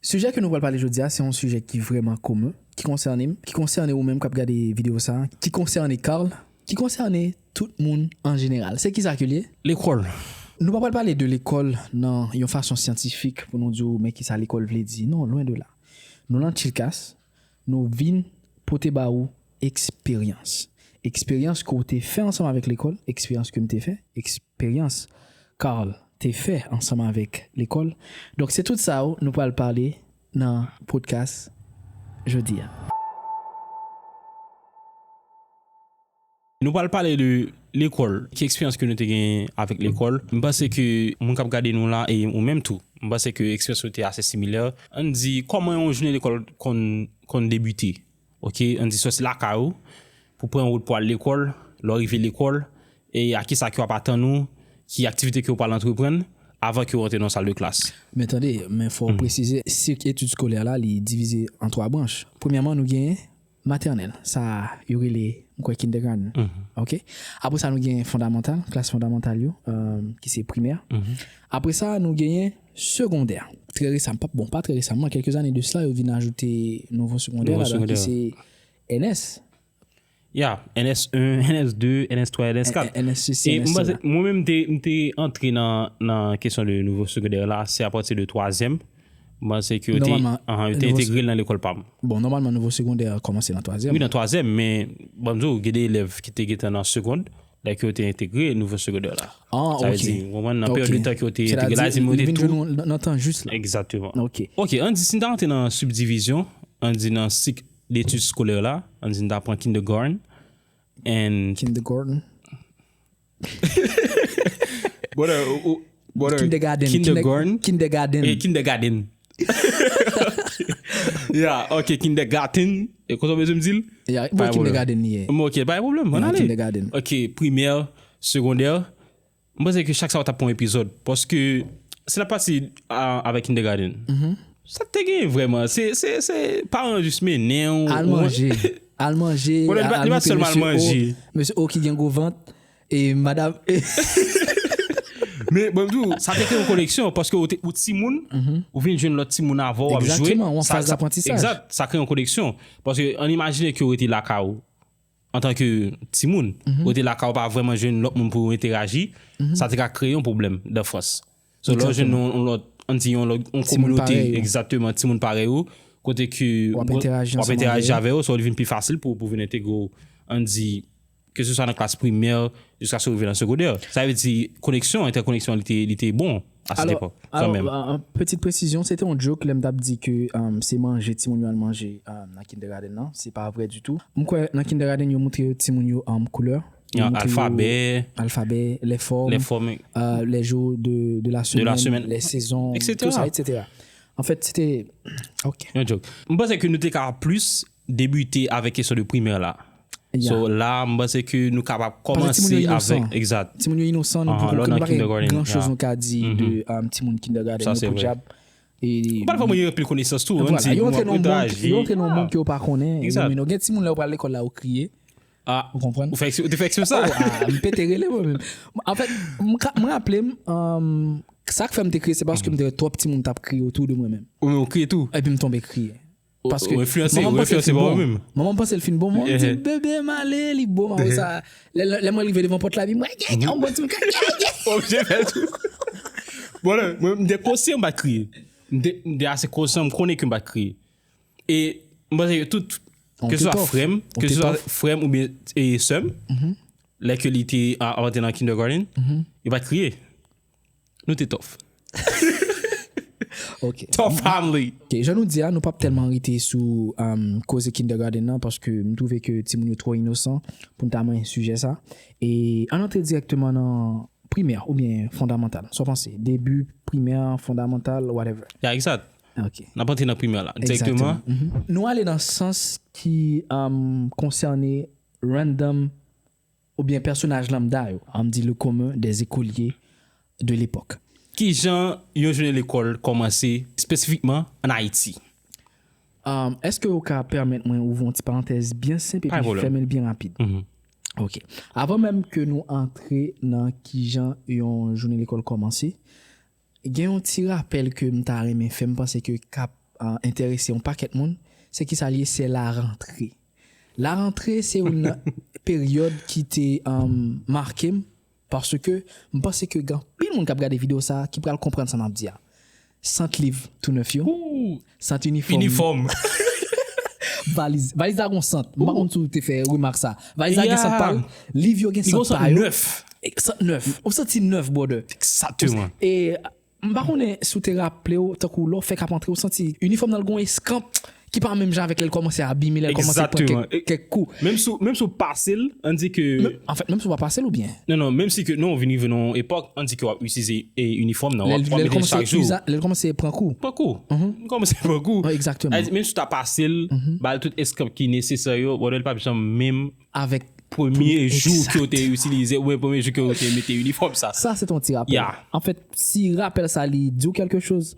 Sijè ke nou pral pale jodi a se yon sijè ki vrèman komen, ki konsène m, ki konsène ou menm kap gade videyo sa, ki konsène Carl, ki konsène tout moun an jeneral. Se kisa ke l ye? Lekòl. Nou pa pral pale de lekòl nan yon fason syantifik pou nou di w men kisa lekòl vle di. Non, lwen de la. Nou lan Chilkas, nou vin pote ba ou eksperyans. Eksperyans ke w te fè ansanm avèk lekòl, eksperyans ke m te fè, eksp. Eksperyans Carl te fè ansanm avèk lekòl. Donk se tout sa yo nou pral pale nan podkas jodi a. Nou pral pale de lekòl. Ki eksperyans ke nou te genyen avèk lekòl. M panse ke moun k ap gade nou la e ou menm tou, m panse ke eksperyans nou te ase similè. Ann di kòman yon jounen lekòl konn debite. Ok an di sòsi lakay ou pou pran wout pou al lekòl, lè w rive lekòl e a kisa ki ap atann ou, ki aktivite ke ou pral antreprann avan ke ou rantre nan sal de klas. Men tande, men fò ou presize sik etid skolè la li divize an 3 branch. Premyèman nou gen matènèl, sa yo rele m kwè kindègàn ok. Apre sa nou gen fondamantal, klas fondamantal yo ki se primè. Apre sa nou genyen. Segondè. Trè resamman, pa bon pa trè resamman, kèlke zane de sla yo vin ajoute nouvo segondè la dan ki se NS. Ya, NS 1, NS 2, NS 3, NS 4. NS se si, NS se la. Mwen menm m te antre nan kesyon de nouvo segondè la se apati de twazyèm. Mwen se ki yo te entegre nan lekòl pa m. Bon, nòmalman nouvo segondè a kòmanse nan twazyèm. Wi nan twazyèm, men banm di w gen de elèv ki te gentan nan segond. lè ke yo te entegre nouvo segondè la. Ah, ok. Sa vle di, ou konprann, nan peryòd de tan ke yo te entegre la, yo te tou. Nan tan jis la. Egzakteman. Ok. Ok, an di si n ta rantre nan sibdivizyon, an di nan sik detid skolè la, an di n ta pran kindegòrn, and. Kindegòrn. Brother, ou. Brother, Kindergarten, kinder- kindergarten. kindergarten. Eh, kindergarten. yeah, ok, kindergarten. Eh, Konsa mwen m dil? Ya, Pas bon, de kindergarten li ye. Bon, ok, pa yon problem, an Ya, ale. kindergarten. Ok, primè, segondè. M panse ke chak sa ou tap pon epizod. Paske, si nap pati a, avèk kindergarten. Mm-hmm. Sa k te gen vreman, se, se, se, paran yo jis mennen ou. Al ou- manje. Al manje. Bon, li pa- al li pa montre sèlman al mesye O- manje. Mesye O ki gen gwo vant. E madam e. Men mwen di w, sa te fè yon koneksyon paske ou te ou timoun, ou vin jwenn lòt timoun avè w ap jwe. Exactement, yon faz aprantisaj. Exact, sa kreye yon koneksyon. Paske an imajine ke ou rete lakay ou antan ke timoun, ou rete lakay ou pa vrèman jwenn lòt moun pou ou enteraji, sa te ka kreye yon pwoblèm dan fwans. So lè w jwenn yon lòt, an di yon lòt, yon kominote, egzatteman, timoun parèy ou, kote ke w ap entèraji avè yo, sa li vin pi fasil pou w vin entegre w, an di, ke se swa nan klas primè, jiska se w rive nan segondè. Sa vle di, koneksyon, entèkoneksyon li te bon, a set epòk, kan menm. Alò, pètit presizyon, se te yon joke lè m t ap di ke se manje timoun yo al manje nan kindègadenn nan, se pa vre ditou. M kwè nan kindègadenn yo moutre timoun yo koulè. Yon alfabè. Alfabè, lè fòm. Lè fòm. Lè jou de la semèn. De la semèn. Lè sezon. Etc. Tout sa, etc. En fèt, se te, ok. Yon joke. M panse ke nou te ka plis debite avèk kesyon de primè la. Ya. So, la, m panse ke nou kapab kòmanse avèk. Panse timoun yo inosan. Exact. Timoun yo inosan, nou poko gen gran chòz nou ka di de timoun kindergarten. Sa, se vre. Yo podyab. Ou pa fòm yo anpil konesans tou. Yo antre nan yon moun ke yo pa konnen. Exact. Gen timoun lè yo pral lekòl la yo kriye. Ah, ou konprann? Ou fè eksp- ou te fè eksprè sa? Oh, ah, m pete rele mwen menm. An fèt, m ka- m raple m, um, sa k fè m te kriye se paske m te wè twòp timoun t ap kriye otou de mwen menm. Ou menm ou kriye tou? Epi m tonbe kriye. Ou- Paske ou enfliyanse, manman m ou panse l enfliyanse fin pa ou bon. menm. Manman m panse l fin bon, manman m di, Ehe. bebe m ale, li bon, ma wè sa. Lè lè mwen rive devan pòt la, bi mwen, gen, gen, on bon timoun, gen, gen, gen. Ou oblije fè tou. Bon, lè, mwen m te konsyan m pa t kriye. M te, m te ase konsyan, m konnen ke m pa t kriye. E m panse ke tout, ke se swa frè m, ke se swa frè m oubyen sè m, lè ke li te antre nan kindergarten, yo pa t kriye. Nou te tòf. Tòf family. Jan nou di a, nou pa p tèlman rete sou koze kindergarten nan paske m twouve ke timoun yo twò inosan pou n ta mennen sijè sa. E ann antre dirèkteman nan primè oubyen fondamantal. Sa w panse? Debi primè, fondamantal, whatever. Ya, egzat. N ap antre nan primè la dirèkteman. Nou ale nan sans ki konsène random oubyen pèsonaj lanmda yo, an di le commun des écoliers de l'époque. Ki jan yon jounen lekòl kòmanse espesifikman an Ayiti? Èske ou ka pèmèt mwen ouvri yon ti parantèz byen senp epi fèmen l byen rapid? Ok. Avan menm ke nou antre nan ki jan yon jounen lekòl kòmanse, Gen yon ti rapèl ke m ta renmen fè m panse ke kap enterese yon pakèt moun, se kisa l ye, se la rantre. La rantre se youn nan peryòd ki te make m paske m panse ke gen anpil moun kap gade videyo sa ki pral konprann sa map di a. Sant liv tou nèf yo, Sant inifòm. Inifòm. Valiz. Valiz la gon sant. M pa konn si w te fè remak sa. Valiz la gen sant pa l. Liv yo gen sant pa yo. Li gon sant nèf. Sant nèf. Yon santi nèf brother. Exactement. E m pa konnen si w te raple w tankou lè w fèk ap antre w santi inifòm nan l gon eskanp ki pa menm jan avèk lè l kòmanse abime, lè l kòmanse pran kèk kou. Menm si w pase l, an n di ke. Anfèt menm si w pa pase l oubyen? Non non menm si ke non ou vin rive nan yon epòk an di ke wap itilize e inifòm nan wap wap mete chak jou. Lè l kòmanse pran kou. Pran kou. Li kòmanse pran kou. Egzakteman. Menm si w ta pase l, ba l tout eskanp ki nesesè yo, brother li pap janm menm avèk premye jou ke w te itilize oubyen premye jou ke w te mete inifòm sa. Sa se t yon ti rapèl. Ya. Anfèt si rapèl sa li di w kèlke choz,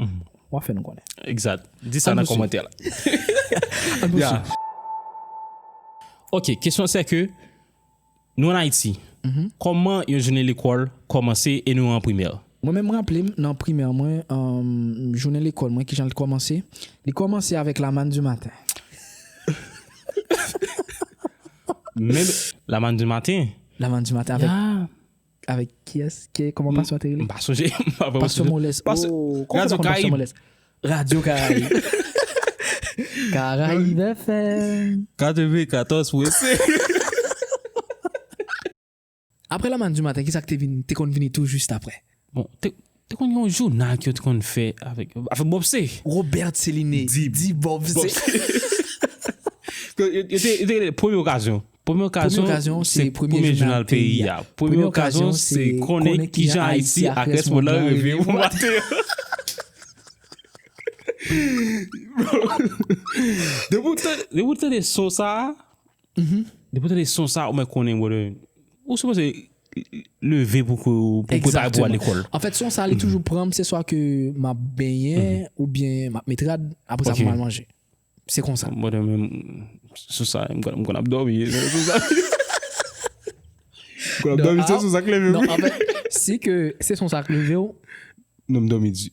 wap fè nou konnen. Egzat. Di sa nan kòmantè la. Ann pwosib. Ok kesyon sè ke. Nou an Ayiti, kòman yon jounen lekòl kòmanse e nou an primè? Mwen menm m raple m nan primè mwen, jounen lekòl mwen kijan l t kòmanse? Li kòmanse avèk la manne du matin. Menm la manne du matin? La manne du matin avèk. Avèk kiyès? Ke kòman pasyon an te rele? M pa sonje. M pa vreman sonje. Pasyon Molès. Pasyon- Oo, kòman Radio kòman Pasyon Caraïbe. Molès? Radio Caraïbe. Caraïbe FM. 94 pou ese. Aprè La Manne du Matin, ki sa k te vini, te konn vini tou jis aprè? Bon, te, Te konn gen yon jounal ke yo te konn fè avèk avèk Bob se. Robert Céliné di Bob se. Yo te yo te rele premye okazyon. Premye okazyon se premye jounal peyi a. Premye okazyon se konnen kijan Ayiti ak rès mond lan reve pou maten an. Depi w tande son sa a, Depi ou tande son sa ou mèt konnen brother ou sipoze leve pou prepare pou al lekòl. Exactement. Anfèt son sa li toujou pranm se swa ke map benyen oubyen map met rad aprè sa pou mal manje. Se konsa. Brother menm son sa m konn ap dòmi nan son sa. M konn ap dòmi se son sa k leve'm. Non anfèt si ke se son sa k leve'w. Non m dòmi di.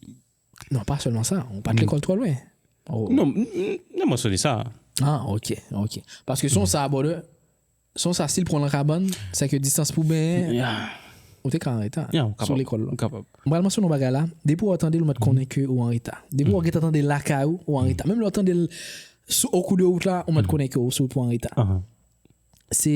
Non, pa sèlman sa. Ou pa t lekòl twò lwen. Non, m nan mansyone sa. A, ok, ok. Paske son sa, brother, son sa si l pran w lan kabann, se ke distans pou w benyen, ou te ka anreta sou lekòl lan. M pral mansyone yon bagay la, depi wè w tande l ou mèt konnen ke ou anreta. Depi wè gentan tande l lakay ou, ou anreta. Menm lè w tande l sou o kou de wout la, ou mèt konnen ke ou sou wout pou w anreta. Se.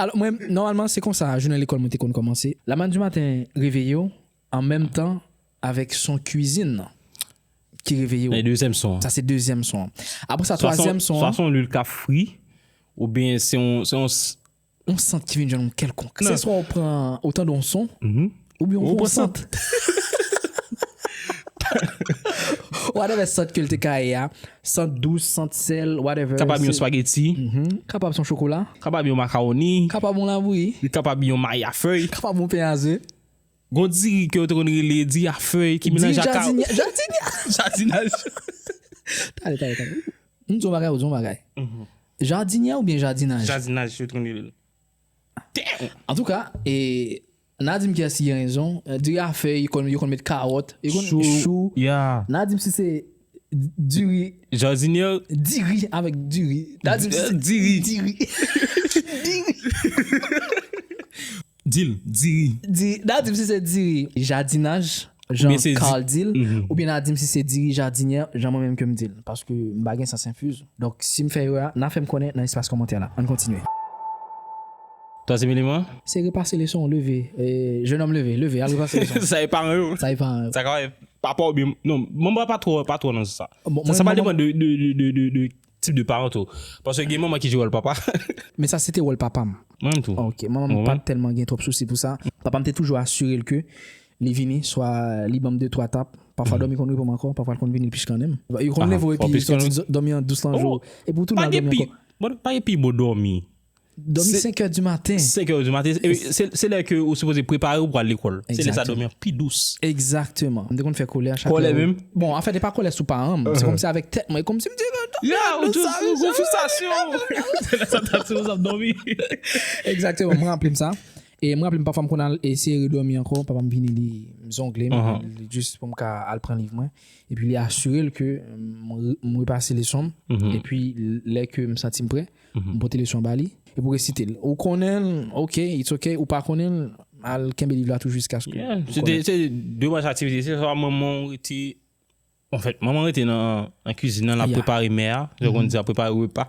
Alò, mwen, nòmalman, se konsa jounen lekòl mwen te konn kòmanse. Lamann di maten reveye w an menm tan avèk son kuizin nan ki reveye w. Sa se dezyèm son an. Sa se dezyèm son an. Apre sa, twazyèm son an. Swa se yon luil k ap fri oubyen se yon. Yon sant ki vin jwenn ou kèlkonk. Se swa ou pran otan de yon son Oubyen yon gwo sant. Whatever sant ke l te ka ye a. Sant dous, sant sèl, whatever. Kapab yon spageti. Kapab son chokola. Kapab yon makawoni. Kapab yon labouyi. Li kapab yon mayi a fèy. Kapab yon pen a ze. Gon diri ke yo te konn rele diri a fèy ki melanj ak kawou. Diri jadinya. Jadinya. Jadinaj. Tande, tande, tande. M di yon bagay, ou di yon bagay. Jadinya oubyen jadinaj? Jadinaj yo te konn rele l. Damn! Antouka, e. Na dim kiyès ki gen rezon. Diri a fè yo konn met karòt. Chou ya. Na dim si se diri. Jardinier. Diri avèk diri. Na dim si se diri. Diri. Diri. Dil diri. Diri. Na dim si se diri. Jardinaj jan Carl dil. Oubyen na dim si se diri jardinier jan mwen menm ke m dil. Paske m pa gen sans infuse. Donk si m fè erè a na fè m konnen nan espas kòmantè la. Ann kontinye. Tan se mini man. Se repase leson w leve jenòm leve leve al repase leson w. Sa e paran yo. Sa e paran yo. Sa ka e papa w byen non manman an pa twò pa twò nan sa. Sa pa depan de de tip de paran tou paske gen manman ki jwe wòl papa. Men sa se te wòl papa m. Mwen menm tou. Ok manman m pat tèlman gen twòp sousi pou sa. Papa m te toujou asire l ke li vini swa li ban m de twa tap pafwa dòmi konn repo m ankò pafwa l konn vini l piskannen m. Yo konn leve w epi soti dòmi an dous lan jou epi w tounen al dòmi ankò. Pa gen pi bon dòmi. Domi 5 è di maten. 5 è di maten. Se lè ke ou sipoze prepare ou pou al lekòl. Se lè sa domi an pi dous. Ekzakteman. M te konn fè kòlè a chak lè. Kòlè menm? Bon, anfèt e pa kòlè sou paran m. Se kòm si avèk tèt mwen. E kòm si m di. Ya! Ou toujou sou gwo fristasyon. Se lè sa ta ti ouzan ap domi. Ekzakteman. M ranpli m sa. E m ranpli m pafwa m konn al eseye redomi ankò. Papa m vini li zongle m. Li jis pou m ka al pran liv mwen. E pi li asire l ke m repase leson m. E pi lè ke m santi m prè. m pote leson an ba li epi w resite l ou konnen l ok it's ok ou pa konnen l al kenbe liv la tou jiskaske ou konnen l. Se de baz aktivite se swa manman w rete anfèt manman rete nan kizin nan l ap prepare mè a jan w konn di l ap prepare repa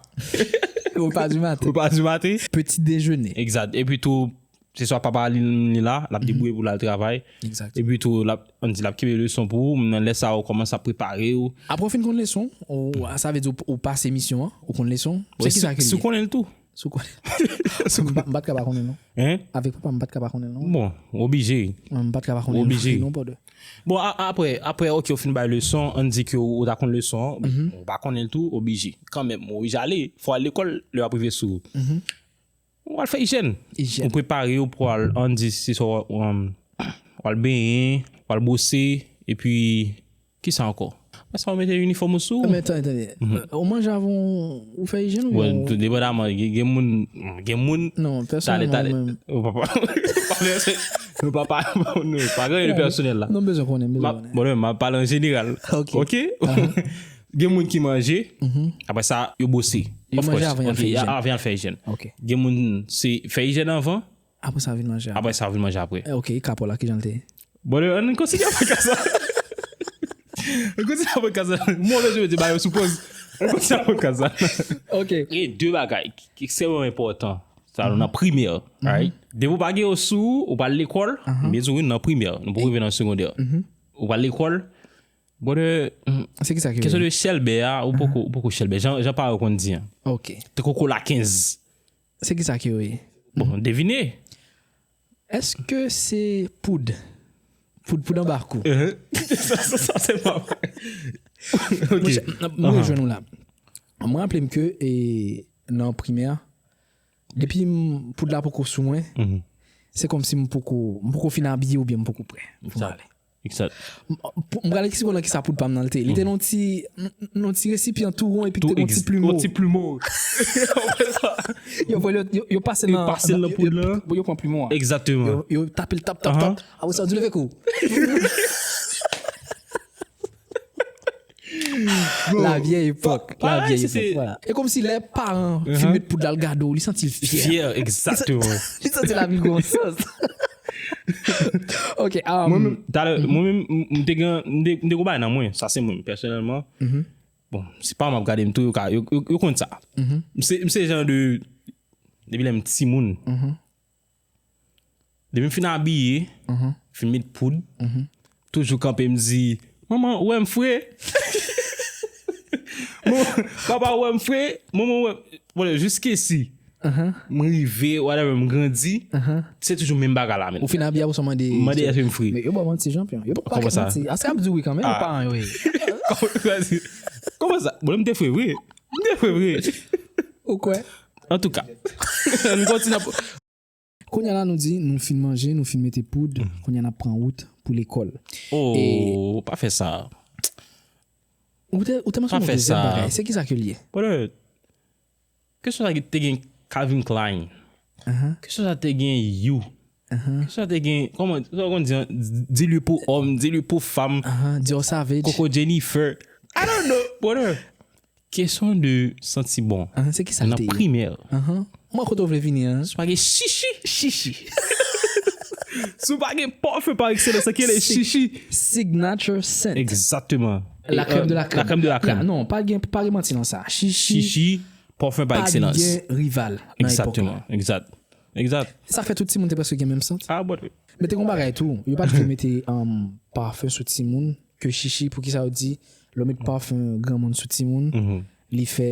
repa di maten repa di maten peti dejene egzat epi tou Se swa papa li menm li la, l ap debouye pou l al travay. Epi tou, l ap, an n di, l ap kenbe leson pou ou, nan lè sa a ou kòmanse ap prepare ou. Apre ou fin konn leson ou, sa vle di ou pase misyon an, ou konn leson ou, se kisa ki li ye? Si ou konnen l tou. Si ou konnen l. M pa t ka pa konnen l non. Hein? Avèk papa m, m pa t ka pa konnen l non. Bon, ou oblije. M pa t ka pa konnen l. Ou oblije. Non brother. Bon, apre, apre ok ou fin bay leson, an n di ke ou ta konn leson an, ou pa konnen l tou, ou oblije kanmenm, ou oblije ale, fò w al lekòl, lè w ap rive sou. Ou pral fè ijèn, ou prepare ou pral an di se sa ou pral benyen, ou pral bwose epi kisa ankò? Apre sa ou mete inifòm ou sou ou. Men tande tande, ou manje avan ou fè ijèn ou byen ou. Bon depandaman gen moun, gen moun. Non pèsonèlman ou menm. Ou pa pa, nou pa pa, nou pa gen yon pèsonèl la. Nou bezwen konnen, bezwen konnen. Bon mwen ap pale an jeneral. Ok. Gen moun ki manje, apre sa yo bwose. Yo manje avan yal fè ijèn. Avan yal fè ijèn. Ok. Gen moun se fè ijèn avan. Apre sa vin manje apre. Apre sa vin manje apre. Ok, e ka paw la kijan l te ye? Brother, ann kontinye avèk ka sa. Ann kontinye avèk ka sa. Mwen wè jodi bagay yo sou poz. Ann kontinye avèk ka sa. Ok. Gen de bagay ki ekstrèmman enpòtan sa nou nan primè, right? Depi ou pa gen yo sou ou, ou pral lekòl, m byen di w wi nou nan primè, nou poko rive nan segondè. Ou pral lekòl. Brother, se kisa ki vle di? Kesyon de chèlbè a, ou poko, ou poko chèlbè. Jan, jan pare yo konn di an. Ok. Te koko la 15. Se kisa ki vle? Bon, devine. Eske se poud? Poud, poud anba kou. Sa, sa, sa se pa vre. Ok. Mwen rejwenn ou la. Mwen raple m ke e, nan primè, depi m, poud la poko sou mwen, se kòmsi m poko, m poko fin abiye oubyen m poko prè pou m ale. M pral eksplike w nan kisa poud pa m nan te. Li te nan yon ti resipyan tou won epi ki te gen yon ti plumo. Yon ti plumo. Yo pase nan. Yo pase nan poud la. Bon yo pran plumo a. Exactement. Yo tape l tap tap tap. Apre sa yo di leve kou. La vieille époque. La Pareil, vieille c'était- époque. Voilà. E kom si lè paran Uh-huh. fi met poud la l gade ou, li santi l fyè. Fier, exactement. Li santi la vi gon sens. Ok, um, Mwen menm, talè, mwen menm, m- m te gen, m te- m te gon bay nan mwen, sa se mwen, pèsonèlman. Bon, se pa map gade m tou, yo ka, yo, yo, yo konn sa. M se, m se jan de, depi lè m ti moun, Depi m fin abiye, fin met poud, toujou kanpe m di, Manman ou wè m fre? Papa ou wè m fre? Manman ou wè m fre? Bon, jiskesi m rive, whatever, m grandi, se toujou menm bagay la menm. Ou fin abiye apre sa w mande? M mande èske m fre. Men yo ba w manti chanpyon. Yo pa kèk manti. Kòman sa? Aske y ap di wi kanmenm paran yo e? Kòman sa? Bon, lè m te fre vre, Mde kwe vre. Ou kwè? Antouka. Ann kontinye ap. Kounya la nou di nou fin manje, nou fin mete poud, kounya nap pran wout pou lekòl. Ooh pa fè sa. Ou te ou te mansyone yon dezyèm bagay, se kisa ke l ye? Brother, ke swa te gen Calvin Klein, ke swa te gen you. Sa te gen, kòman, sa ou konn di an, di li pou òm, di li pou fam. Aha, di yo savage. Koko Jennifer. I don't know, brother. Kesyon de santi bon. Aha, se ki sa l te ye? Nan primè. Aha. Mwen wè kote ou vle vini an. Si w pa gen shishi. Shishi. Si w pa gen parfum par excellence an ki rele shishi. Signature scent. Exactement. La crème de la crème. La crème de la crème. Ya, non, pa gen, pa gen manti nan sa. Shishi. Shishi, parfum par excellence. Pa gen rival nan epòk la. Exactement, exact. Exact. E sa fè tout timoun te prèske gen menm sant. Ah but. Men te gon bagay tou, yo pat vle mete parfum sou timoun ke chichi poukisa yo di lè w met parfum granmoun sou timoun li fè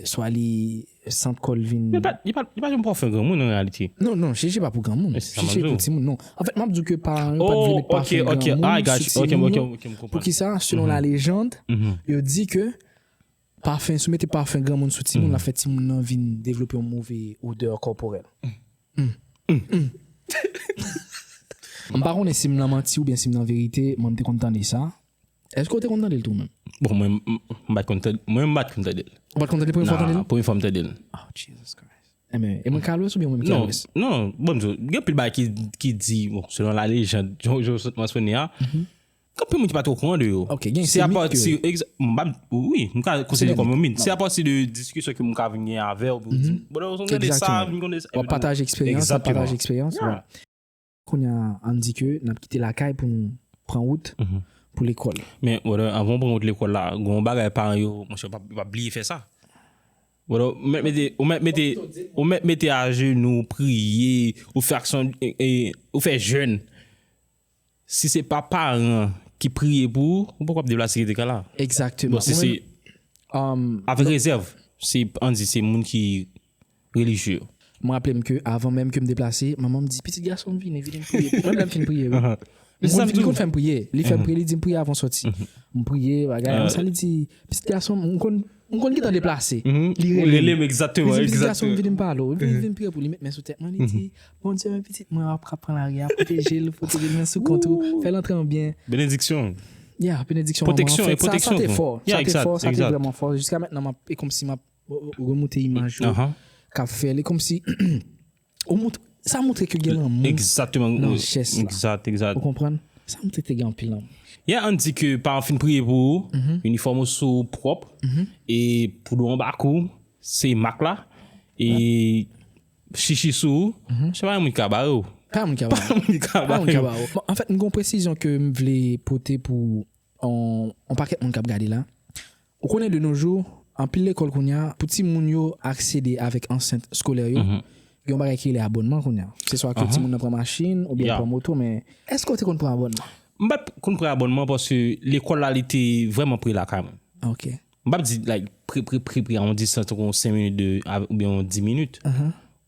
swa li sant kò l vin. Yo pat, yo pat, yo pa janm parfum granmoun en realite. Non non chichi pa pou granmoun. Men se sa map di w. Chichi pou timoun non. En fèt map di w ke paran yo pat vle met parfum granmoun sou timoun yo. Oh ok ok ah I got you ok ok m konprann. Poukisa selon la légende yo di ke Pafen, si w mete pafen granmoun sou timoun l ap fè timoun nan vin devlope yon move odè kòporèl. M pa konnen si m nan manti oubyen si m nan verite, mwen m te konn tande sa. Èske w te konn tande l tou menm? Bon mwen m pa t konn tande l. Mwen m pa t konn tande l. Ou pa t konn tande l premye fwa w tande l? Non, premye fwa m tande l. Oh Jesus Christ! Enben, e mwen k al lwès oubyen ou menm ki al lwès? Non, non, bon m di w, gen anpil bagay ki di, bon selon la lejand, jan w sot mansyone a, Anpil moun ki pa tro kouran de yo. Ok, gen se mit ke yo. M pa, wi, m ka konsidere kòm yon mit. Se apati de diskisyon ke m ka vin gen avè w pou m di, bro, ou gen de sa, vin konde sa. Wap pataje eksperyans, wap pataje eksperyans. Exactement. Kounye a, ann di ke n ap kite lakay pou nou pran wout pou lekòl. Men, brother, anvan w pran wout lekòl la, gen yon bagay paran yo, monchè, yo pa bliye fè sa. Brother, ou mèt mete, ou mèt mete, ou mèt mete ajenou, priye, ou fè aksyon, ou fè jèn. Si se pa paran ki priye pou ou, ou poko ap viv la sekirite kay la. Exactement. Bon si se avèk rezèv, si an di se moun ki relijye yo. M raple m ke avan menm ke m deplase, manman m di pitit gason m vini, vini m priye pou ou. Menm lè m fin priye wi. Li konn fè m priye, li fè m priye, li di m priye avan w sòti. M priye bagay, sa li di pitit gason m, m konn M konn gentan deplase. Li rele m. Li di m pitit gason m vini m pale w. Li vin pre pou li met men sou tèt mwen, li di, Bondye men pitit mwen an ap ka pran lari a, pwoteje l, pwoteje l men sou kont ou, fè l antre an byen. Benediksyon. Ya, benediksyon manman an. Pwoteksyon, pwoteksyon. Sa te fò. Sa te fò, sa te vrèman fò. Jiska mètnan m ap, e kòmsi m ap remoute imaj yo k ap fè l. E kòmsi. Ou moutre, sa moutre ke gen lanmou. Exactement. Nan jès la. Exact, exact. Ou konprann? Sa moutre te gen anpil lanmou. Yeah, an di ke paran fin priye pou ou, inifòm ou sou ou pwòp, e pou dlo anba kou, se mak la, e chichi sou ou, se pa yon moun ki ka bare ou. Pa yon moun ki ka bare ou. Pa yon moun ki ka bare ou. Pa yon moun ki ka bare ou. Bon, anfèt, m gen yon presizyon ke m vle pote pou yon pakèt moun k ap gade la. Ou konnen de no jou, anpil lekòl kounye a, pou timoun yo aksede avèk ansent skolè yo, gen yon bagay ki rele abònman kounye a. Se swa ke timoun nan pran machin oubyen l pran moto men, èske w te konn pran abònman? M pa t konn pran abònman paske lekòl la li te vrèman pre lakay mwen. M pa p di like pre pre pre pre a yon distans tankou yon 5 minit de oubyen yon 10 minit.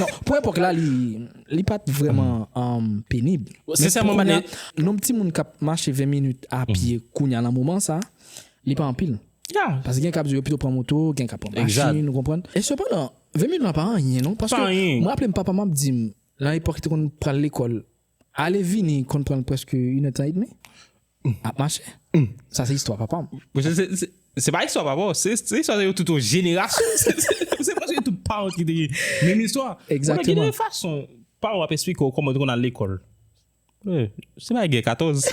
Non, pou epòk la li pa t vrèman penib. Sensèman m pa. Nonb timoun k ap mache 20 minit a pye kounye a nan moman sa, li pa anpil. Paske gen k ap di yo pito pran moto, gen k ap pran machin, ou konprann. E sepandan, 20 minit lan pa anyen non. Paske mwen raple m papa m ap di m, nan epòk li te konn pral lekòl. Ale vini konn pran l prèske inèdtan edmi ap mache. Sa se istwa papa m. Se pa istwa papa w, se istwa se yo tout yon jenerasyon. Se prèske tout paran w ki te gen menm istwa. Egzakteman. Gen de fason paran w ap esplike w kòman yo te konn al lekòl. Se pa gè 14.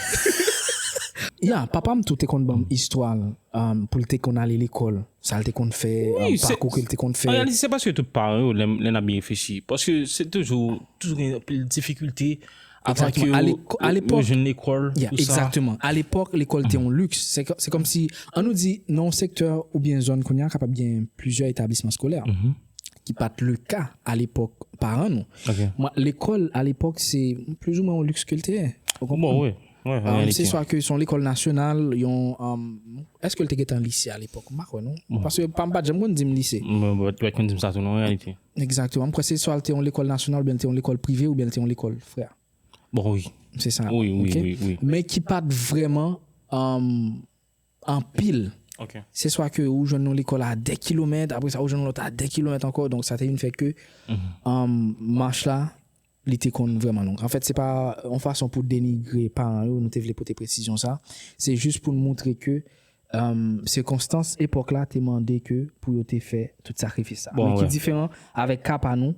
Ya, papa m tou te konn ban m istwa l pou l te konn ale lekòl. Sa l te konn fè, pakou ke l te konn fè. An reyalite se paske tout paran yo lè n ap byen reflechi. Paske se toujou, toujou gen anpil difikilte avan ke yo jwenn lekòl. Ya, egzakteman. A lepòk, lekòl te yon liks. Se kòm si, an nou di nan yon sektè oubyen yon zòn kounye a kapab gen plizyè etablisman skolè. Ki pa t leka a lepòk paran nou. Lekòl a lepòk se plizoumwen yon liks ke l te ye. Ou konprann? Se swa ke son lekòl nasyonal, yon, èske l te gen tan lise a lepòk? M pa kwè non. Paske pa m pa t janm konn di m lise. Mwen pa t konn di m sa tou non an reyalite. Egzakteman. M kwè se swa l te yon lekòl nasyonal oubyen l te yon lekòl prive oubyen l te yon lekòl frè. Bon wi. Se sa. Wi wi wi wi. Men ki pa t vrèman. Anpil. Ok. Se swa ke ou jwenn yon lekòl a 2 kilomèt, apre sa ou jwenn yon lòt a 2 kilomèt ankò, donk sa te vin fè ke mach la li te konn vrèman long. Anfèt se pa yon fason pou denigre paran yo, nou te vle pote presizyon sa, se jis pou nou montre ke sikonstans epòk la te mande ke pou yo te fè tout sakrifis sa. Men ki diferan avèk ka pa nou,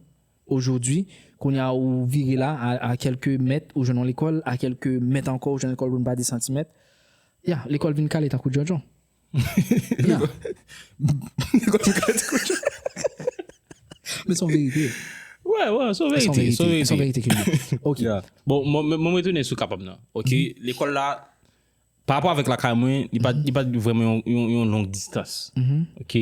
Ojodwi, kounye a ou vire la, a kèlke mèt ou jwenn yon lekòl, a kèlke mèt ankò ou jwenn lekòl pou n pa di santimèt. Ya, lekòl vin kale tankou djondjon. Ya. Lekòl vin kale tankou djondjon. Men son verite. Wè, wè, son verite. Son verite. Son verite. Son verite ke li. Ok. Ya. Bon, mwen retounen sou kapab nan. Ok. Lekòl la, pa rapò avèk lakay mwen, li pa vrèman yon long distans. Ok.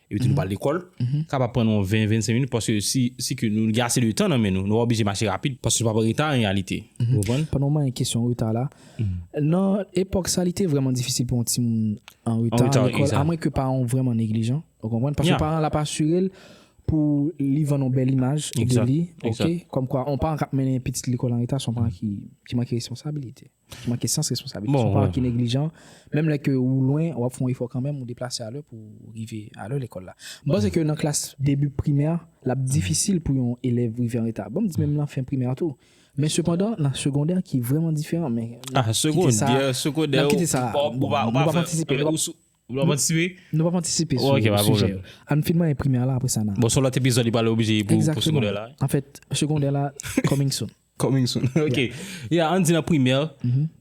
Epi tou nou pa al lekòl. Kapab pran nou yon 20, 25 minit paske si, si ke nou gen ase de tan nan men nou, nou pa oblije mache rapid paske nou pap an reta an reyalite. Ou konprann? Pandan w manyen kesyon reta la, nan epòk sa li te vrèman difisil pou yon timoun an reta an lekòl amwen ke paran w vrèman neglijan. Ou konprann? Paske paran an l ap asire l pou li vann yon bèl imaj de li, ok, kòmkwa yon paran k ap mennen yon pitit lekòl an reta se yon paran ki manke responsabilite. Ki manke sans responsabilite. Bon, Son paran ki neglijan. Menm lè ke ou lwen, wap fè yon efò kanmenm, ou deplase a lè pou ou rive a lè lekòl la. M panse ke nan klas debi primè, lap difisil pou yon elèv rive an reta. Bon, m di menm nan fen primè tou. Men sepandan, nan segondè ki vreman diferan, men n ap kite sa a. Ah, segondè, segondè ou, ou pa, ou pa fè. Bon, nou pap antisipe. Ou pap antisipe? Nou pap antisipe sou sijè. Ok, pa pwoblèm. Ann fin manyen primè la, apre sa n a. Bon, son lòt epizòd li pral oblije pou segondè la. Egzakteman. Anfèt, segondè la coming soon. Coming soon ok Yeah an di nan primè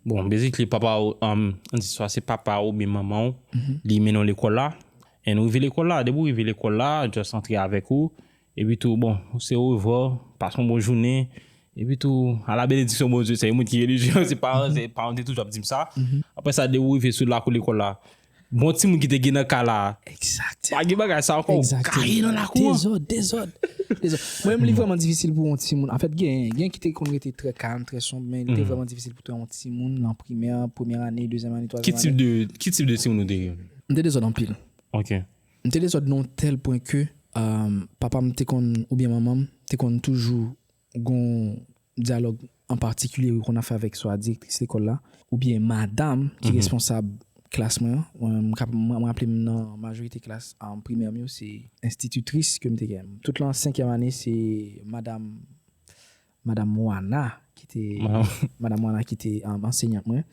Bon basically papa ou An di swa se papa ou oubyen manman ou Li mennen w lekòl la And ou rive lekòl la Depi ou rive lekòl la Just antre avèk ou Epi tou bon Se orevwa Pase yon bon jounen Epi tou A la benediksyon Bondye Se yon moun ki relijye Se paran se paran te toujou ap di m sa Apre sa depi ou rive sou lakou lekòl la Bon ti moun ki te gen nan kay la. Exact. Pa gen bagay sa ankò. Exact. Kaye nan lakou. Dezòd, dezòd. Dezòd. Mwen menm li vrèman difisil pou yon ti moun. An fèt gen, gen ki te konn rete trè kalm, trè sonb, men li te vrèman difisil pou yon ti moun nan primè, premyè ane, dezyèm ane, twazyèm ane. Ki tip de, ki tip de ti moun ou te ye? M te dezòd anpil. Ok. M te dezòd nan yon tèl pwen ke papa m te konn oubyen manman m te konn toujou. Gon dyalòg an patikilye wi konn ap fè avèk swa direktris lekòl la oubyen madam ki responsab klas mwen an. Mwen ka mwen raple m nan majorite klas primè m yo se enstititris ke m te gen. Tout lan senkyèm ane se madam madam Wana ki te madam Wana ki te ansenyant mwen.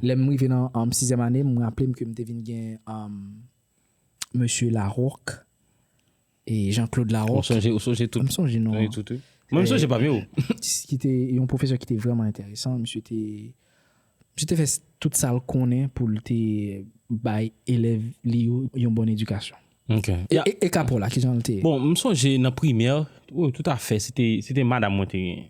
Lè m rive nan sizyèm ane m raple m ke m te vin gen mesye Larocque. E Jean Claude Laroque. Ou sonje, ou sonje tout. M sonje non. Sonje tout wi. Mwen m sonje pa m yo. Ki te yon pwofesè ki te vrèman enteresan. Misye te, misye te fè tout sa l konnen pou l te bay elèv li yo yon bòn edikasyon. Ok. E Capo la, kijan l te? Bon, m sonje nan primè, wi toutafè, se te, se te madam mwen te genyen.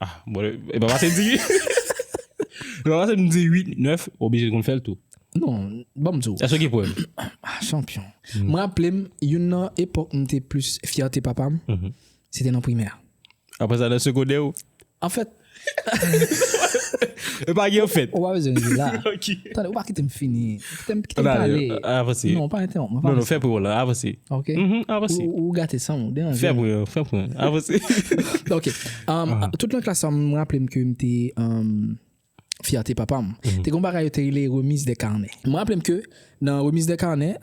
Ah bon e pa pase di. E pa pase m di 8, 9, ou oblije konn fè l tou. Non, ban m di w. Èske w gen prèv? Ah chanpyon. M raple m youn nan epòk m te plis fyète papa m, se te nan primè. Aprè sa nan segondè ou? Anfèt. E pa gen anfèt. Ou pa bezwen ri la. Ok. Tande, ou pa kite m fini. Fèm kite m pale. Avanse. Non, pa entewonp mwen. Non, non, fè pri w lan. Avanse. Ok. Avanse. Ou gate san ou. Deranje. Fè pri w. Fè pri w. Avanse. Ok. Tout nan klas sa, m raple m ke m te fyète papa m. Te gon bagay yo te rele remise de carnet. M raple m ke nan remise de carnet,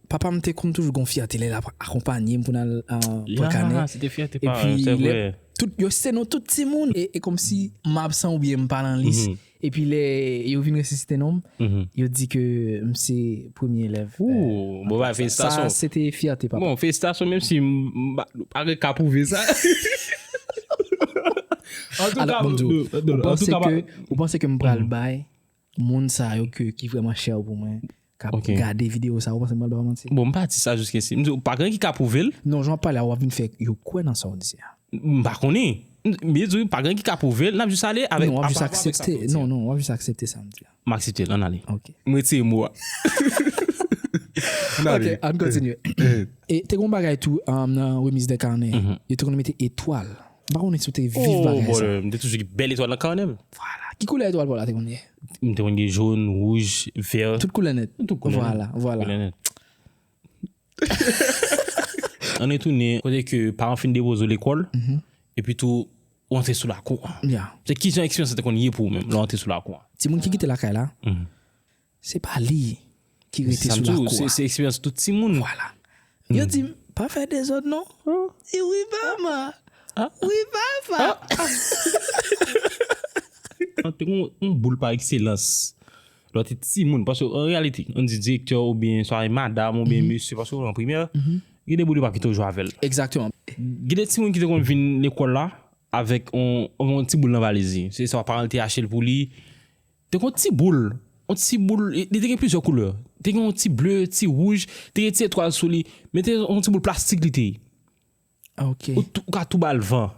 papa m te konn toujou gon fyète lè l ap akonpanye m pou n al pran kanè. Ya, se te fyète paran l, se vre. Epi, yo site non tout timoun. E kòmsi m absan oubyen m pa nan lis, Epi lè yo vin resisite non m, yo di ke m se premye elèv. Ooh, bon bagay, felisitasyon. Sa se te fyète papa. Bon, felisitasyon menm si m pa gen ka pwouve sa. Antouka, bon Dieu, ou panse ke m pral bay moun sa yo ki vreman chè pou mwen kap gade video sa ou panse mwen pral ba ou manti. Bon m pa di sa jiske si. M di ou pa gen anyen ki ka pwouve l. Non jan wap pale a wap vin fè yo kwè nan sa ou di a. M pa konnen. M vle di ou pa gen anyen ki ka pwouve l nap jis ale avèk sa ou di a. Non wap jis aksepte. Non non wap jis aksepte sa m di a. M aksepte l ann ale. Ok. M retire mo a. Ok ann kontinye. E te gon bagay tou nan remise de carnet yo te konn mete etwal. M pa konnen si w te viv bagay sa. Oh brother, m te toujou gen bèl etwal nan kanè m. Vwala. Ki koulè etwal pa w la te konn gen? M te konn gen jòn, wouj, vè. Tout koulè nèt. Tout koulè nèt. Vwala, vwala. Koulè nèt. An retounen, kote ke paran w fin depoze w lekòl, epi tou ou antre sou lakou an. Ya. Se kijan eksperyans sa te konn ye pou ou menm lè w antre sou lakou an? Timoun ki kite lakay la, Se pa li ki rete sou lakou a. Se sa m di w, se eksperyans tout timoun. Vwala. Yo di m, pa fè dezòd non. E wi mama! Wi papa! An te gen yon boul pa ekselans. Lò te timoun, paske an reyalite, an di direktè oubyen swa e madam oubyen mesye, paske ou nan primè, gen de boul yo pa kite w jwe avè l. Egzakteman. Gen de timoun ki te konn vin lekòl la avèk yon ti boul nan valiz li. Se swa paran l te achte l pou li, Te gen yon ti boul, yon ti boul, li te gen plizyè koulè, te gen yon ti ble, ti wouj, te gen ti etwal sou li, men te yon ti boul plastik li te ye. Ok. Ou ka tou ba l van.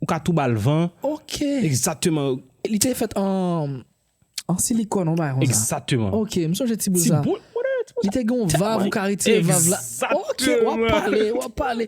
Ou ka tou ba l van. Ok. Egzakteman. Li te fèt an, an silikòn yon bagay konsa. Egzakteman. Ok, m sonje ti boul sa. Ti boul, whatever, ti boul sa. Li te gen yon vav ou ka retire vav la. Egzakteman. Ok, w ap pale, w ap pale.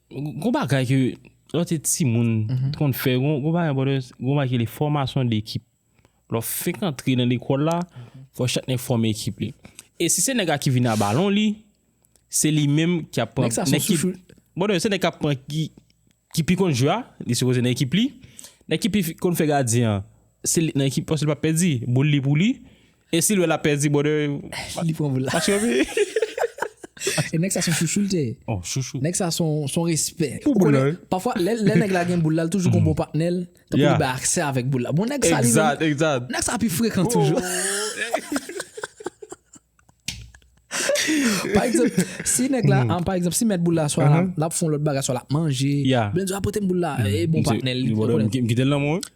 Gon bagay ke lè w te timoun, te konn fè, gon bagay bòdè, gon bagay ki rele fòmasyon dekip. Lè w fenk antre nan lekòl la, fò chak nèg fòme ekip li. E si se nèg la ki vini a balon li, se li menm ki ap pran. Nèg sa son soufri. Bòdè, se nèg k ap pran ki, ki pi konn jwe a, li sipoze nan ekip li. Nèg ki pi konn fè gadyen an, se li nan ekip, paske li pa p pèdi, boul li pou li. E sil wè lap pèdi brother li pran boul la. Paske wi. E nèg sa son chouchou li te ye. Oh chouchou. Nèg sa son respè. Pou boul la wi. Pafwa lè nèg la gen boul la li toujou gon bon patnè l. Tankou li bay aksè avèk boul la. Bon nèg sa li menm. Egzat egzat. Nèg sa pi frekan toujou. Pa egzanp si nèg la an pa egzanp si mèt boul la swa lap fon lòt bagay swa lap manje. Bndye a potem boul la e bon patnè l. Li pran boul la. Mkitel nan mwen wi.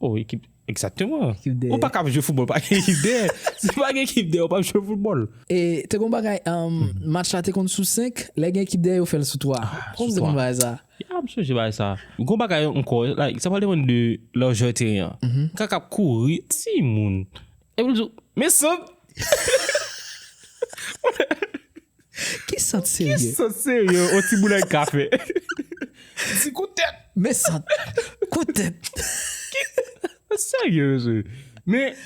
Oh ekip exactement ou pa kap jwe football pa gen ekip dè si pa gen ekip dè ou pap jwe football. E te gon bagay match la te konn sou 5 lè gen ekip dè yo fèl sou 3 kòman te konn bagay sa. Ya m sonje bagay sa gon bagay ankò like sa pral depann de lajè teren an nèg la kap kouri timoun epi l di w men sant. Ki sant serye? Ki sant serye on ti boulay ka fè? Ti kout tèt. Men sant. Kout tèt. Serye mesye. Men,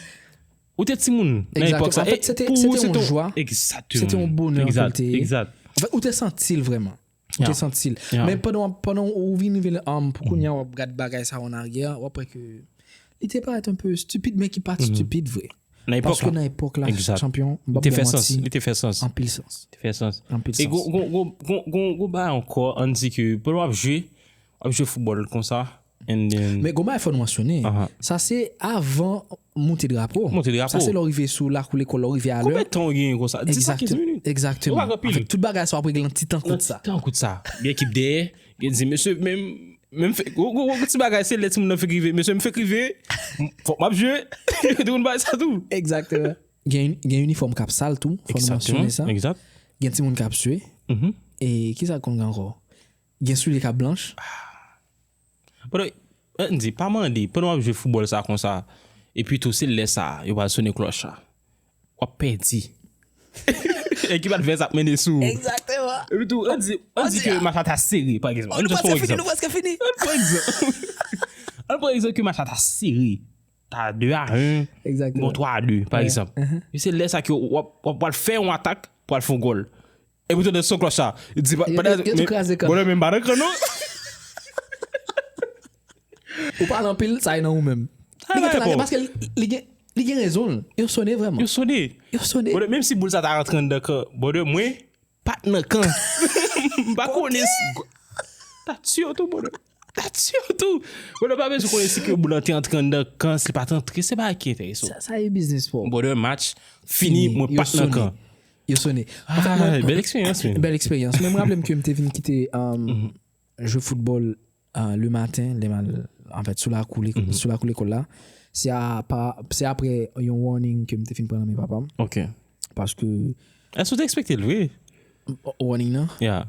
ou te timoun nan epòk sa. Pou ou se te yon jwa. Exactement. Se te yon bonè pou l te ye. Exact. Ou te santi l vreman. Ou te santi l. Men pandan ou vin rive la, pou kounya wap gad bagay sa an aryè, wap wè ke li te parèt anpe stupid men ki pat stupid vre. Nan epòk la. Paske nan epòk la, chanpyon, m pap bon manti. Li te fè sans. Anpil sans. Li te fè sans. Anpil sans. E gwo bagay ankò, an di ke pandan wap jwe, Ap jwe football konsa and then. Men gon bagay fò nou mansyone, sa se avan moute drapo. Moute drapo. Sa se lè w rive sou lakou lekòl la, w rive a lè. Konbyen tan w genyen konsa? 10 a 15 minit. Ekzakteman. Ou pa pran pil. Tout bagay sa w ap regle nan ti tan kout sa. Nan ti tan kout sa. Gen ekip dèyè, gen di mesye men m fèk, gon ti bagay se lè timoun nan fèk rive, mesye m fèk rive, fòk m ap jwe. Ou te konn bagay sa tou? Ekzakteman. Gen inifòm k ap sal tou, fò nou mansyone sa. Ekzakteman, ekzat. Gen timoun k ap swe. E kisa k konn gen ankò? Gen soulye kap blanch. Pandan Ann di, pa mande, pandan wap jwe foubòl sa konsa, epi tou se lè sa yo pral sone klòch la. Wap pèdi. Ekip advès ap mennen sou ou. Egzakteman. Epi tou Ann di, Ann di ke match la ta sere pa egzanp. Ann di, Ann pran egzanp ke match la ta sere. ta 2 a 1, bon 3 a 2, pa egzanp. E se lè sa ki w ap pral fè yon atak pou al fè yon gòl. E pou tande son klòch sa. Yo tou kraze kan. Bonè men m pa nan kan non. Ou pale anpil, sa e nan ou menm. Li gen kraze paske li gen rezon. Yo sone vreman. Yo sone. Yo sone. Bonè menm si boul sa ta rantre anndan kan, bonè mwen pat nan kan. M pa konnen. Ta tiye w tou bonè. Atsyon tou! Bon nou pa bezwen konnen si ke moun an te antre anndan kan, si li pa te antre, se bagay ki enterese w. Sa e biznis pa w. Brother, match fini, mwen pa t nan kan. Yo sone. Ay, bèl eksperyans menn. Bèl eksperyans. Mwen m raple m ke m te vin kite jwe foutbòl le maten, lè m al anfèt sou lakou lekòl la. Se apa, se aprè yon warning ke m te fin pran nan men papa m. Ok. Paske. Èske w te ekspekte l vre? Warning nan? Yeah.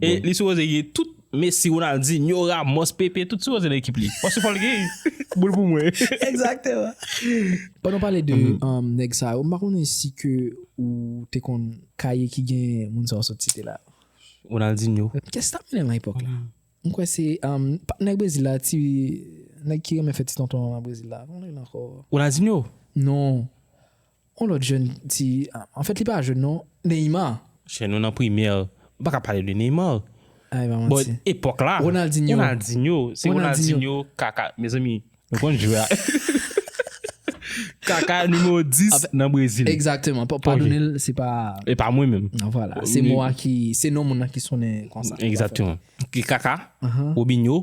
E li sipoze gen tout Messi, Ronaldinho, Ramos, Pepe tout sipoze nan ekip li. Paske fòl gen boul pou mwen. Exactement. Pandan w pale de nèg sa yo, m pa konnen si ke ou te konn kaye ki gen moun sa w sot site la yo. Ronaldinho. Kès tap mennen lan epòk la? M kwè se nèg Brezil la, ti nèg ki renmen fè ti tonton an lan Brezil la. Konn li ankò? Ronaldinho? Non. On lòt jèn ti an fèt li pa jèn non, Neymar. Chè nou nan primè nou pa ka pale de Neymar. Ah e pa manti. Bon epòk la. Ronaldinho. Ronaldinho se Ronaldinho kaka mezanmi nou konn jwè a. Kaka nimewo 10 nan Brezil. Egzakteman padone l se pa. E pa mwen menm. An vwala se mo a ki se non moun nan ki sonnen konsa. Egzakteman. Kaka, Robinho,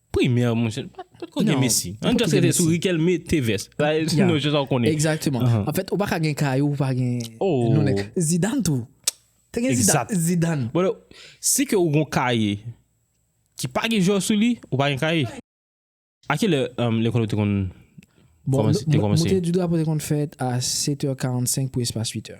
Primè monchè, pat ko gen mesi. An just rete sou rikel mete vès. Sa e nou jis an konnen. Exactement. An fèt ou pa ka gen kay ou pa gen nou nèk. Zidane tou. Te gen zidane. Bon, si ke ou gon kay ki pa gen jò sou li, ou pa gen kay. A ki lè lekòl ou te kon kòmanse? Bon, monte di drapo te kon fèt a 7 è 45 pou espas 8 è.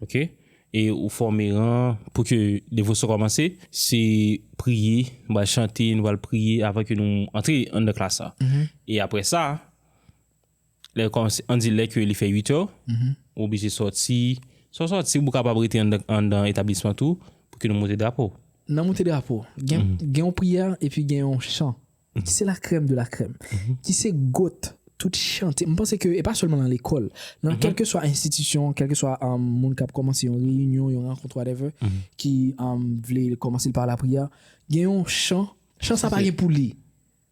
Ok e ou fòme ran pou ke devosyon kòmanse se priye nou pral chante nou pral priye avan ke nou antre anndan klas la e aprè sa lè yo kòmanse an di lè ke li fè 8 è ou oblije sòti sa w sòti ou kapab rete anndan etablisman tou pou ke nou moute drapo. Nan moute drapo gen yon priyè epi gen yon chan. ki se la crème de la crème, ki se goat tout chante, m panse ke e pa sèlman nan lekòl, nan kèlkeswa enstitisyon, kèlkeswa moun kap kòmanse yon reyinyon, yon rankont whatever, ki vle kòmanse l pa lapriyè, gen yon chan, chan sa pa gen pou li,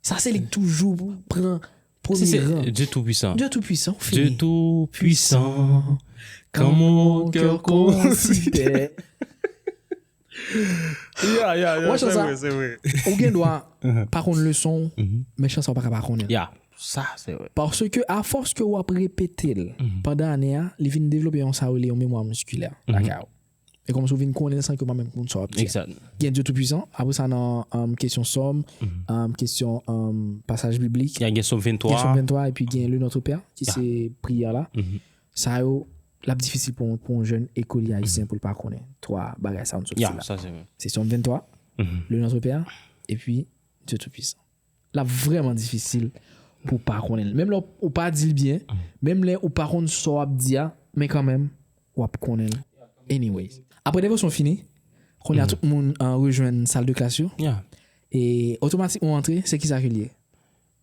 sa se li k toujou pran premye ran. Dye tou pwisan. Dye tou pwisan, ou fini. Dye tou pwisan, kan mon cœur considère. Ya ya ya se vre se vre. Ou gen dwa pa konn leson w men chan sa ou paka pa konnen l. Ya sa se vre. Paske a fòs ke wap repete l pandan ane a li vin devlope yon sa yo rele yon memwa miskilè lakay ou. E kòmsi ou vin konnen l san ke ou pa menm konn sa wap di a. Exactly. Gen Dieu tout puissant, apre sa nan kesyon sòm, kesyon pasaj biblik. Ya gen som 23. Gen som 23 epi gen le notre père ki se priyè la. Sa yo L ap difisil pou yon jèn ekolye ayisyen pou l pa konnen twa bagay sa yo nou sot di la, se Sòm 23, Le Nontre Pè a, epi Dye Toupisan. L ap vrèman difisil pou w pa konnen l. Menm lè ou pa di l byen, menm lè ou pa konn sa w ap di a, men kanmenm, w ap konnen l anyway. Apre devosyon fini, kounye a tout moun rejwenn saldeklas yo, e otomatikman w antre, se ki sa ke l ye?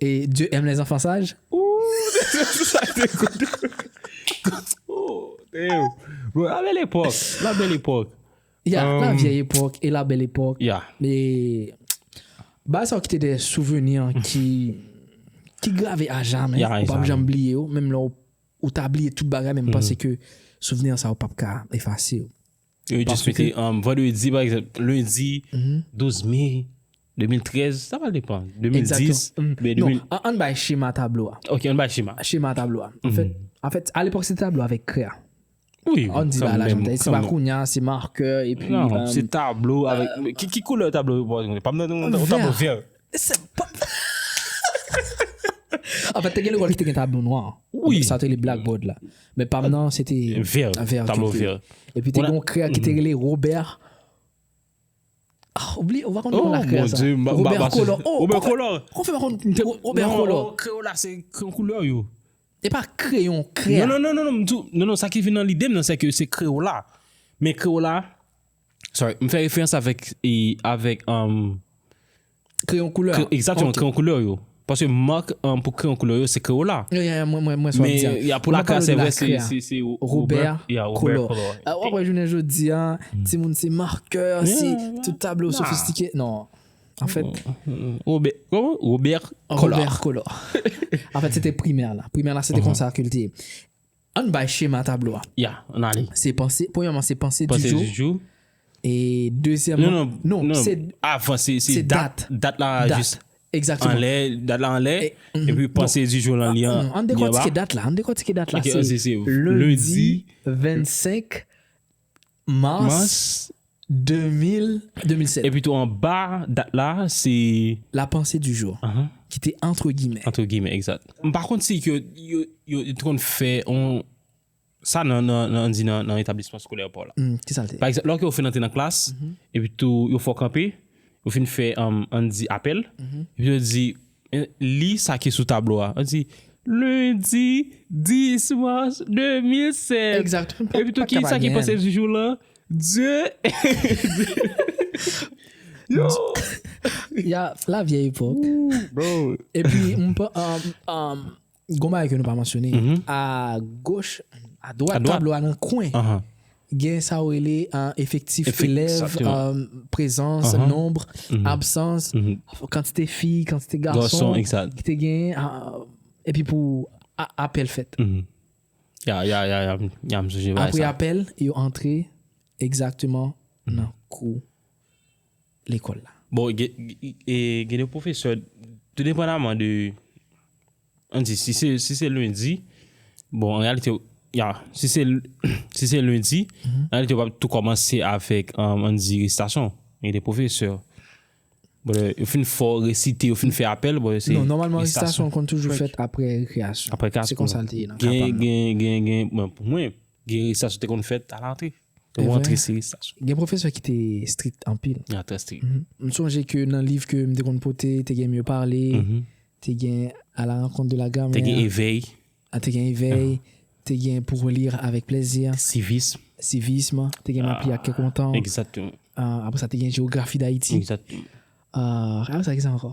E Dieu aime les enfants sages? Ooh sa te good Damn Bro la belle époque La belle époque Ya la vieille époque e la belle époque Ya E Bagay sa yo kite de souveni ki Ki grave a jamè Ou pap janm bliye yo Menm lè ou ta bliye tout bagay men m panse ke Souvni sa yo pap ka efase yo. Yo jis mete vandredi pa egzanp, lendi 12 me 2013, sa pral depan, 2010. Non, an bay chema tablo a. Ok, an bay chema. Chema tablo a. An fèt, a lepòk se tablo avèk krè a. Wi, an di ba la jantay, se pa kounya, se marker, epi. Non, se tablo avèk, ki koulè tablo yo pral mwen? Pam nan, ou tablo vè. Anfèt te gen lekòl ki te gen tablo nwa. Wi. Sa yo te rele blackboard la. Men pa m nan se te. Vè. Vè. Tablo vè. Epi te gen yon kreyò ki te rele Robè. Ou bliye, ou pa konn konn la kreyò sa. Oh mon Dieu, m pa m pa pase. Robè kolò. Robè kolò. Ou fè m pa konn m te wè Robè kolò. Non, non, kreyò la se kreyon koulè yo. E pa kreyon, kreyò. Non, non, non, non, non, m di w, non, non, sa ki vin nan lide m nan se ke se kreyò la. Men kreyò la, Sorry, m fè referans avèk e avèk um Kreyon koulè a. Exactement, kreyon koulè yo. Paske mark um, pou kreyon koulè yo se Crayola. Yo ya ya mwen mwen mwen sa wap di a. Men ya pou lakre a se vre se se se Robert ya Robert Color. A wap wè jounen jodi a, ti moun se marker, se tout tablo sofistike. Non. En fait. Robert, koman? Robert Color. Robert Color. En fait se te primè la. Primè la se te konsa ke li te ye. An n bay chema tablo a. Ya, an n ale. Se panse, premyèman se panse du jou. Panse du jou. E dezyèmman. Non, non, non, se. Avan, se dat. Se dat. Dat la jis. Dat. Egzakteman. Anlè, dat la anlè. E. E pi panse du jou lan li an. An n dekòtike dat la, an n dekòtike dat la. Ok, an n se se. Lendi 25. Mars 2007. Epitou anba dat la se. La pensée du jour. Ki te antre gimè. Antre gimè, egzat. M pa konn si ke yo te konn fè yon. Sa nan, an di nan etablisman skolè pa w la. Ki sa l te? Pa egzanp, lè w fin antre nan klas, epitou yo fè w kanpe, yo fin fè, an di apèl, epitou yo di, Li sa ki sou tablo a. An di, Lendi 10 mas 2007. Exact. Mwen pa ka pa gen. Epitou ki sa ki pase sou jou lan? Dye. Yo. Ya la vye epok. Ooh bro. Epi mwen pa, um, um. Gon bagay ke nou pa mansyone. A goch, a dwat tablo a nan kwen, gen sa ou rele efektif elèv, prezans, nonb, absans, kantite fi, kantite gason, ki te gen, epi pou apèl fèt. Ya, ya, ya, ya, ya, msou je vay sa. Apre apèl, yo antre, egzakteman, nan kou. lekòl la. Bon, gen de pwofesè, tou depandaman de, an di, si se, si se lendi, bon, an reyalite, ya, si se, si se lendi, an reyalite yo pap tou kòmanse avèk, an di, resitasyon. Gen de pwofesè, bon lè, yo fin fè w resite, yo fin fè apèl, bon lè se, resitasyon. Non, nòmalman resitasyon konn toujou fèt apre rekreyasyon. Apre rekreyasyon. Se konsa l te ye nan ka pa m nan. Gen, gen, gen, gen, bon, pou mwen, gen resitasyon te konn fèt alantre. Te bon antre seri staj. Gen pwofesè ki te strict anpil. Ya trè strict. M sonje ke nan liv ke m te konn pote, te gen Mieux parler, te gen A la rencontre de la grammaire. Te gen Éveil. A te gen Éveil, te gen Pour lire avec plaisir. Civisme. Civisme, te gen M'ap li ak kè kontan. Exactement. Apre sa te gen Géographie d'Haïti. Exactement. Apre sa ki sa ankò?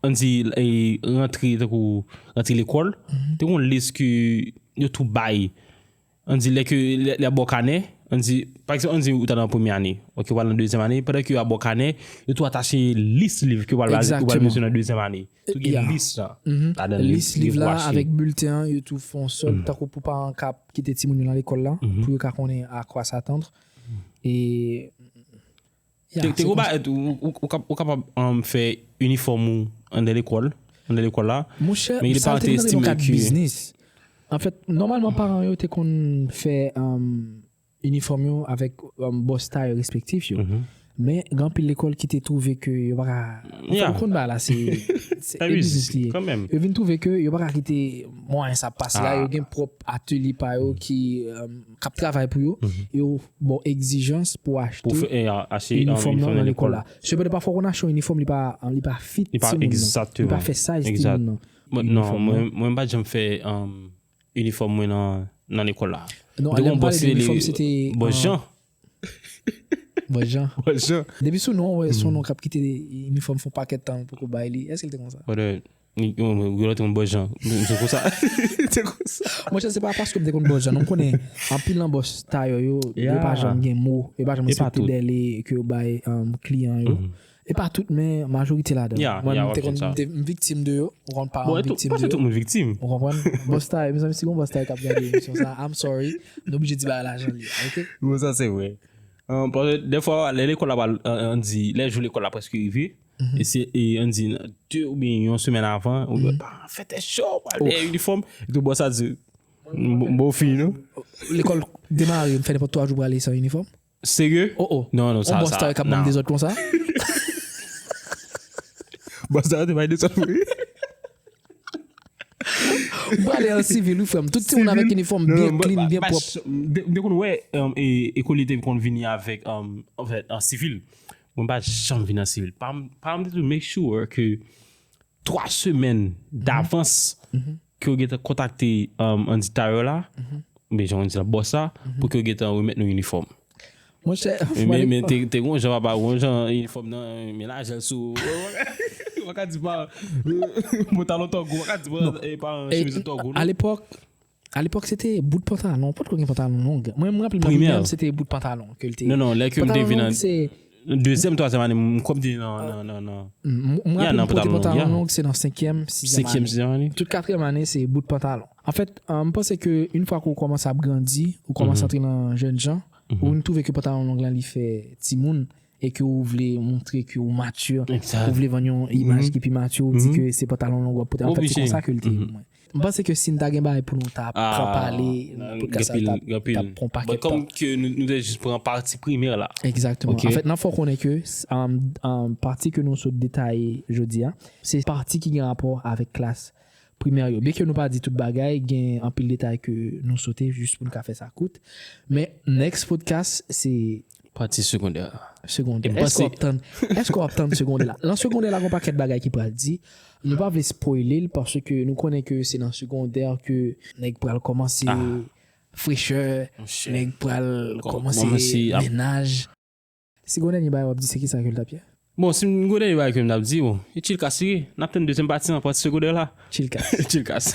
An di rantre tankou rantre lekòl, te gon lis ke yo tou bay. An di lè ke lè a ba w kanè, an di pa egzanp an di ou ta nan premye ane, ok ou pral nan dezyèm ane, pandan ke yo ap ba w kanè, yo tou atache lis liv ke ou pral bal ou pral bezwen nan dezyèm ane. Tou gen lis la. Lis liv la avèk bilten an yo tou fon sòl tankou pou paran k ap kite timoun yo nan lekòl la pou yo ka konnen a kwa s'attendre e Te gwo bagay tou, ou kapab fè inifòm ou andè lekòl, andè lekòl la. Monchè, men sa yo te nan kad biznis. Anfèt, nòmalman paran yo te konn fè inifòm yo avèk bòs tay respektif yo. Men, gen anpil lekòl ki te twouve ke yo pa ka, anfèt, ou konn bagay la se e biznis li ye. Yo vin twouve ke yo pa ka kite mwayen sa pase la, yo gen pwòp atelye pa yo ki. k ap travay pou yo, yo ba w egzijans pou w achte inifòm nan nan lekòl la. Sepandan, pafwa w konn achte yon inifòm li pa fit timoun nan, li pa fè size timoun nan. Non, mwen m pa t janm fè inifòm mwen nan lekòl la. Non, lè m pale de inifòm se te. Bonjan. Bonjan. Bonjan. Depi sou non w wè son non k ap kite inifòm fon pakèt tan ou poko bay li. Èske l te konsa? Gouyèlè te konn bwè jan. Se konsa. Se konsa. Monchè se pa paske m te konn bwè jan non. M konnen anpil nan bòs tayò yo, yo pa janm gen mo. Yo pa janm respekte dèle ke yo bay kliyan yo. E pa tout men majorite ladan. Ya, ya wap jwenn sa. Mwen te konn, m viktim de yo. M konn pa m viktim de yo. Bon, e tou, pa se tout moun viktim. Ou konprann? Bòs tayò, mezanmi si gon bòs tayò kap gade emisyon sa, I'm sorry. Nou oblije di bagay la jan l ye. Ok? Bon sa se vre. Paske dèfwa lè lekòl la pral, an di, lè jou lekòl la prèske rive. E se e an di 2 ou byen yon semèn avan, ou byen pa fè tè chò, pa fè tè uniform, e tou bòs a di, mbo fi nou. Lekòl demare, m fè nenpòt 3 jou prale san uniform. Serye? O o. Non, non, sa, sa. On bòs ta wè kap banm dezòd konsa. Bòs sa te bay dezòd pou li. M prale an sivil wi frèm, tout timoun avèk uniform byen clean, byen pwòp. M te konn wè e kole te konn vini avèk an sivil. Mwen pa janm vin nan sivil pa m. Pa m te toujou make sure ke 3 semèn davans ke yo gentan kontakte andita yo la, oubyen jan yo di la bòs la, pou ke yo gentan remèt nou inifòm. Monchè, fwani. Men te gon jan papa, gon jan inifòm nan, men lajè l sou. Ou pa ka di pa. Mwen ta lontan gou, ou pa ka di pa. Alepòk, A lepòk se te bout pantalon, potko gen pantalon long. Mwen m raple m nan primè an se te bout pantalon ke l te. Non non lè ke m te vin nan dezyèm, twazyèm ane m kwè m te nan nan nan. M raple m pote pantalon long se nan senkyèm, sizyèm ane. Tout katriyèm ane se bout pantalon. Anfèt m panse ke yn fwa ke w kòmanse ap grandi, ou kòmanse antre nan jènjan, ou vin twouve ke pantalon long lan li fè timoun e ke ou vle montre ke ou mature, ou vle vann yon imaj ki pi mature, ou di ke se pantalon long w ap pote. Anfèt se konsa ke l te. M panse ke si n ta gen bagay pou nou ta pran pale nan podcast sa tap pran paket tan. But kom ke nou te jis pran pati primer la. Exactement. En fèt nan fò konnen ke pati ke nou sot detaye jodi a, se pati ki gen rapò avèk klas primer yo. Byen ke nou pa di tout bagay, gen anpil detay ke nou sote jis pou n ka fè sa kout. Men next podcast se Pati segondè a. Segondè. Epi Èske w ap tann, èske w ap tann segondè la? Lan segondè la gen yon pakèt bagay ki pral di. Nou pa vle spoile l paske nou konnen ke se nan segondè ke nèg pral kòmanse frechè, nèg pral kòmanse mennaj. Si gon dènye bagay w ap di se kisa ke l t ap ye? Bon, si m gon dènye bagay ke m t ap di, bon, e Chilkas li ye. N ap tann dezyèm pati lan, pati segondè la. Chilkas. Chilkas.